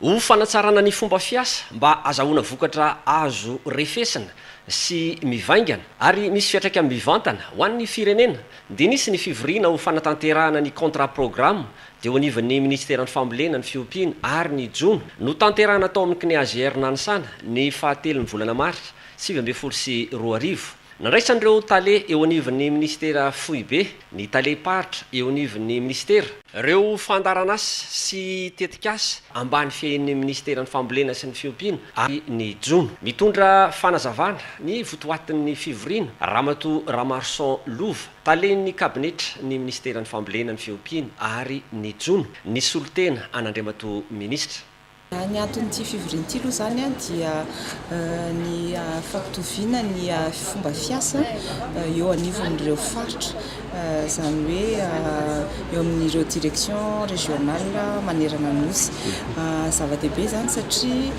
Ho fanatsarana ny fomba fiasa mba azahoana vokatra azo refesina sy mivaingana ary misy fiantraikany mivantana ho an'ny firenena dia nisy ny fivoriana ho fanatanterahana ny contrat programme teo anivon'ny Minisiteran'ny Fambolena, ny Fiompiana ary ny Jono notanterahina tao amin'ny CNEAGR Nanisana ny fahatelon'ny volana marsa sivy ambin'ny folo sy roa arivo. Nandraisan'ireo Tale eo anivon'ny Minisitera foibe, ny Talem-paritra eo anivon'ny Minisitera, Ireo fandaharan'asa sy tetikasa ambany fiahian'ny minisiteran'ny Fambolena sy ny fiompiana ary ny jono. Mitondra fanazavana ny votoatin'ny fivoriana Ramatoa Ramarson Lova, talen'ny kabinetra ny minisiteran'ny Fambolena, ny fiompiana ary ny jono, ny solontena an'Andriamatoa Minisitra. Ny anton'ity fivoriana ity aloha izany dia ny fampitoviana ny fomba fiasa eo anivon'ireo faritra, izany hoe eo amin'ireo directions régionales manerana ny Nosy. Zava-dehibe izany satria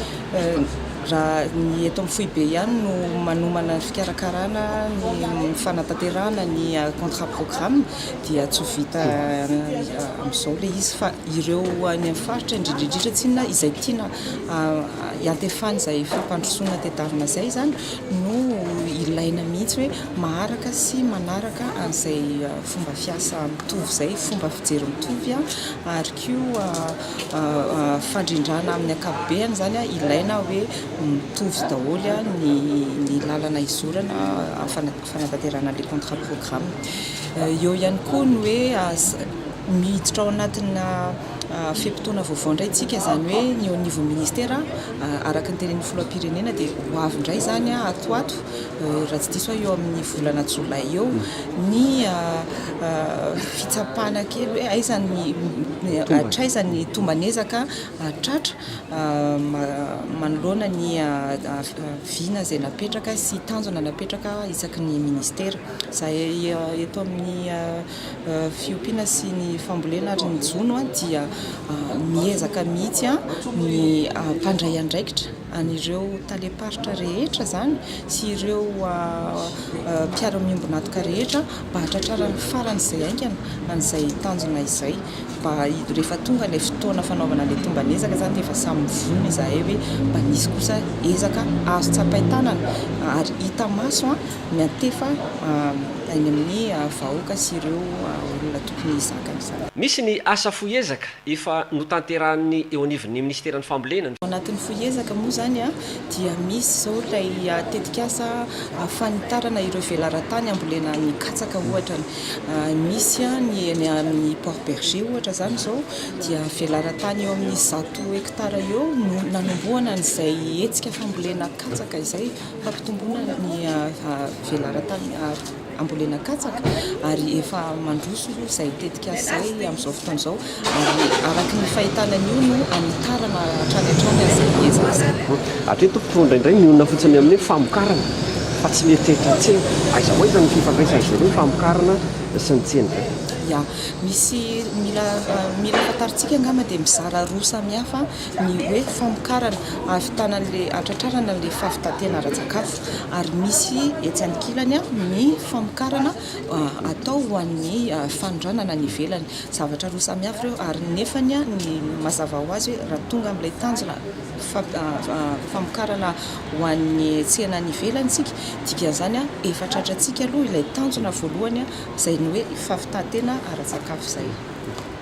raha ny eto amin'ny foibe ihany no manomana ny fikarakarana ny fanatanterahana ny contrat programme. dia tsy ho vita amin'izao ilay izy fa ireo any amin'ny faritra indrindra indrindra tsinona izay tiana hiantefan'ny izay fampandrosoana tedavina izay izany no ilaina mihitsy hoe maharaka sy manaraka an'izay fomba fiasa mitovy izay fomba fijery mitovy an ary koa fandrindrana amin'ny akapobeany izany an ilaina hoe mitovy daholo ny lalana izorana fanatanterahana le contrat programme. Eo ihany koa ny hoe miditra ao anatina fe-potoana vaovao indray tsika, izany hoe ny eo niveau ministera, araka ny tenenin'ny filoham-pirenena dia ho avy indray izany ato ato, raha tsy diso aho eo amin'ny volana jolay eo, ny fitsapana kely hoe aiza ny, hatraiza ny tomban'ezaka tratra. manoloana ny vina izay napetraka sy tanjona napetraka isaky ny Ministera. Izahay eto amin'ny fiompiana sy ny fambolena ary ny jono dia miezaka mihitsy ny mpandray andraikitra, an'ireo Talem-paritra rehetra izany sy ireo mpiara-miombon'antoka rehetra mba hahatratrarany farany izay haingana an'izay tanjona izay. Mba hido rehefa tonga ilay fotoana fanaovana ilay tomban'ezaka izany dia efa samy mivono izahay hoe mba nisy kosa ezaka azo tsapain-tanana ary hita maso miantefa any amin'ny vahoaka sy ireo olona tokony hizaka an'izany. Misy ny asa fohy ezaka efa notanterahin'ny eo anivon'ny minisiteran'ny fambolena. Ao anatin'ny fohy ezaka moa izany dia misy izao ilay tetikasa fanitarana ireo velaran-tany hambolena ny katsaka ohatra. Misy ny eny amin'ny Port Bergé ohatra izany izao dia velaran-tany eo amin'ny zato hekitara eo no nanombohana an'izay hetsika fambolena katsaka izay, fampitomboana ny velaran-tany ambolena katsaka ary efa mandroso izay tetikasa izay amin'izao fotoana izao. ary araka ny fahitana an'io no hanitarana hatrany hatrany an'izay ezaka izay. Hatreto mpitondra indray mionona fotsiny amin'ny hoe famokarana fa tsy mieritreritra tsena. Aiza ho aiza ny fifandraisan'izao hoe famokarana sy ny tsena izao? Ya, misy mila mila fantarintsika angamba dia mizara roa samihafa ny hoe famokarana ahavitana an'ilay hatratrarana an'ilay fahavitan-tena ara-tsakafo ary misy etsy ankilany ny famokarana atao ho an'ny fanondranana any ivelany. Zavatra roa samy hafa ireo ary nefany ny mazava ho azy hoe raha tonga amin'ilay tanjona famokarana ho an'ny tsena any ivelany isika, dikan'izany efa tratrantsika aloha ilay tanjona voalohany izay ny hoe fampitantena ara-tsakafo izay.